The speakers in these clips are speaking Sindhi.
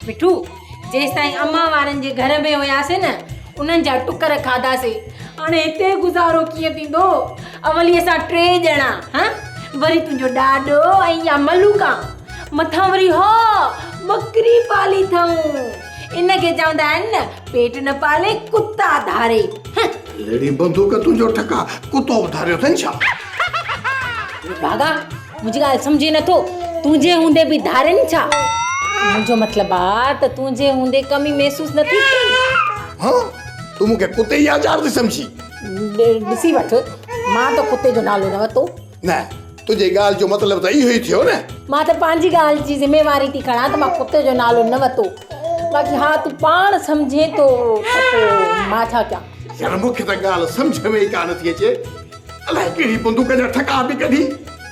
مٺو، جيستائين امان وارن جي گهر ۾ هياسين نه، انهن جا ٽڪر کاڌاسين. هاڻي هتي گذارو ڪيئن ٿيندو؟ اولي اسان ٽي ڄڻا، هه، وري تنهنجو ڏاڏو ۽ اها ملوڪا. مٿان وري اها ٻڪري پالي اٿئون. ان کي چوندا آهن نه، پيٽ نه پالي، ڪتا ڌاري، هه. ليڙي بندوق تنهنجو ٺڪاء ڪتو به ڌاريو اٿئي ڇا؟ بڀاڳا! منهنجي ڳالهه سمجهين نٿو؟ تنهنجي هوندي به ڌارين ڇا؟ منهنجو مطلب آ ته تنهنجي هوندي ڪمي محسوس نٿي ٿئي؟ ها تون مون کي ڪتي جي آچار ٿي سمجهين؟ ڏسي وٺ مان ته ڪتي جو نالو نه ورتو. نه تنهنجي ڳالهه جو مطلب ته اهو ئي ٿيو نه. مان ته پنهنجي ڳالهه جي ذميواري ٿي کڻان ته مان ڪتي جو نالو نه ورتو باقي ها تون پاڻ سمجهين ٿو ته پوء مان ڇا ڪيان؟ يار مون کي ته ڳالهه سمجهه ۾ ئي ڪا نٿي اچي. الائي ڪهڙي بندوق جا ٺڪا پئي ڪڍي.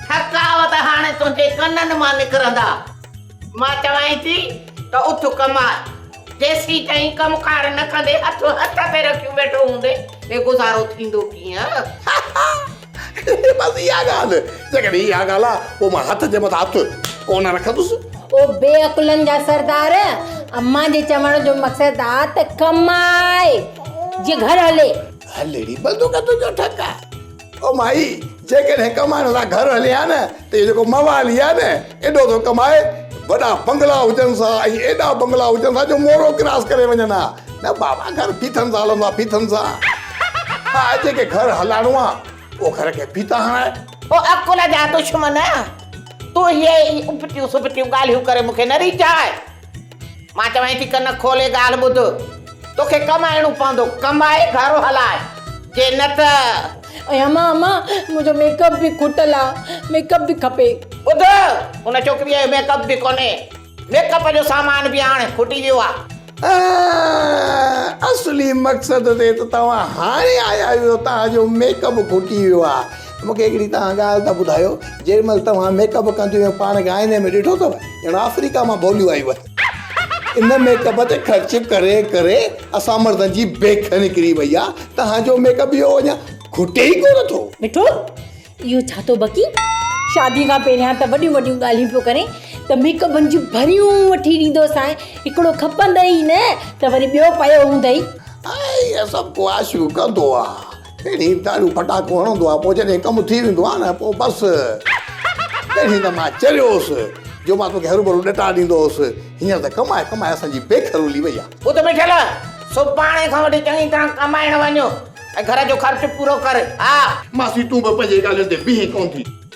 ٺڪاء ته هاڻي تنهنجي ڪنن مان نڪرندا. مان چوانء ٿي ته اٿ ڪماء. جيسيتائين ڪم ڪار نه ڪندين هٿ هٿ تي رکيون ويٺو هوندين هي گذارو ٿيندو ڪيئن؟ بس اها ڳالهه. جيڪڏهن اها ڳالهه آ پوء مان هٿ جي مٿان هٿ ڪونه رکندس. او بي عقلن جا سردار امان جي چوڻ جو مقصد آ ته ڪماء جي گهر هلي. هلڙي بندوق تنهنجو ٺڪ آ. او مائي جيڪڏهن ڪمائڻ لا گهر هلين ها نه ته اهو جيڪو موالي آ نه ايڏو ٿو ڪمائي وڏا بنگلا هجن سا ۽ ايڏا بنگلا هجن سا جو مورو ڪراس ڪري وڃن ها نه بابا گهر ڦيٿن سان هلندا ڦيٿن سان ها جيڪي گهر هلائڻو آ اهو گهر کي ڦيٿا هڻائي. او عقل جا دشمن تون هي اٻٽيون سٻٽيون ڳالهيون ڪري مون کي نه ريجهاء. مان چوانء ٿي ڪن کولي ڳالهه ٻڌ، توکي ڪم اهڙو پوندو، ڪم آهي گهر هلاء، جي نه ته. اما اما منهنجو ميڪ اپ به کوٽل آ، ميڪ اپ به کپي. ٻڌ، ان ڇوڪريء کي ميڪ اپ به ڪونهي، ميڪ اپ جو سامان به هاڻ کوٽي ويو آ. اصلي مقصد تي ته توهان هاڻي آيا آهيو، توهان جو ميڪ اپ کوٽي ويو آ. مون کي هڪڙي تهان ڳالهه ته ٻڌايو جيڏي مهل توهان ميڪ اپ ڪنديون ۽ پاڻ ڳائيندي مون ڏٺو اٿو ڄڻ آفريڪا مان ڀوليون آيون اٿن ان ميڪ اپ تي خرچ ڪري ڪري اسان مردن جي بيک نڪري وئي آ تهان جو ميڪ اپ اهو اڃا کٽي ئي ڪونه ٿو مٺو اهو ڇا ٿو بڪي شادي کان پهريان ته وڏيون وڏيون ڳالهيون پيو ڪرين ته ميڪ اپن جون ڀريون وٺي ڏيندو سانء هڪڙو کپندئي نه ته وري ٻيو پيو هوندئي آء اهي سڀ ڪو آشيون ڪندو آ ڪهڙي دارو پٽاڪو هڻندو آهي پوء جڏهن ڪم ٿي ويندو آهي نه پوء بس تڏهن ته مان چريو هوس جو مان توکي هروڀرو ڏٽا ڏيندو هوس هينئر ته ڪمائي ڪمائي اسان جي بيک رولي وئي آهي. بت بيٺل سڀاڻي کان وٺي چڱي طرح ڪمائڻ وڃ ۽ گهر جو خرچ پورو ڪر ها. ماسي تون به پنهنجي ڳالهين تي بيهين ڪونه ٿي.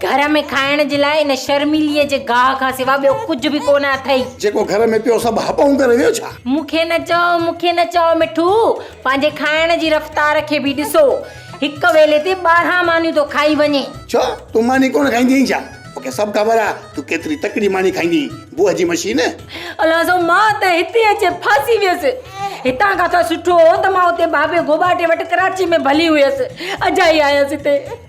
گهر ۾ کائڻ جي لاء ان شرميليء جي گاهه کان سوا ٻيو ڪجهه به ڪونه اٿئي. جيڪو گهر ۾ پيو سڀ هٻئون ڪري ويو ڇا؟ مون کي نه چئو، مون کي نه چئو مٺو، پنهنجي کائڻ جي رفتار کي به ڏسو. هڪ ويلي تي ٻارهن مانيون ٿو کائي وڃي. ڇو، تون ماني ڪونه کائيندي آهين ڇا؟ مون کي سڀ خبر آهي، تون ڪيتري تڪڙي ماني کائيندي آهين، بوء جي مشين. الان سو مان ته هتي اچي ڦاسي ويس. هتان کان ته سٺو هو ته مان اتي بابي گوٻاٽي وٽ ڪراچيء ۾ ڀلي هيس، اجائي آيس هتي.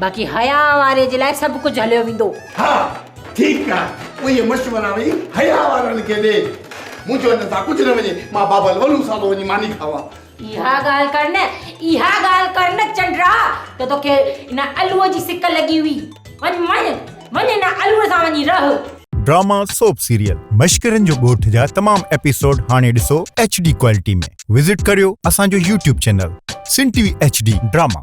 باقي حياء واري جي لاء سڀ ڪجهه هليو ويندو. ها ٺيڪ آ اهي مشورا وي حياء وارن کي ڏي. منهنجو هن سان ڪجهه نه وڃي مان بابا الولو صاحب وڃي ماني کاوان. اها ڳالهه ڪر نه اها ڳالهه ڪر نه چنڊرا ته توکي ان الوء جي سڪ لڳي هئي. وڃ وڃ وڃ ان الوء سان وڃي رهه. ڊراما سوپ سيريل مشڪرين جو ڳوٺ جا تمام ايپيسوڊ هاڻي ڏسو ايڇ ڊي ڪوالٽي ۾ وزٽ ڪريو اسان جو YouTube channel Sindh T V H D drama.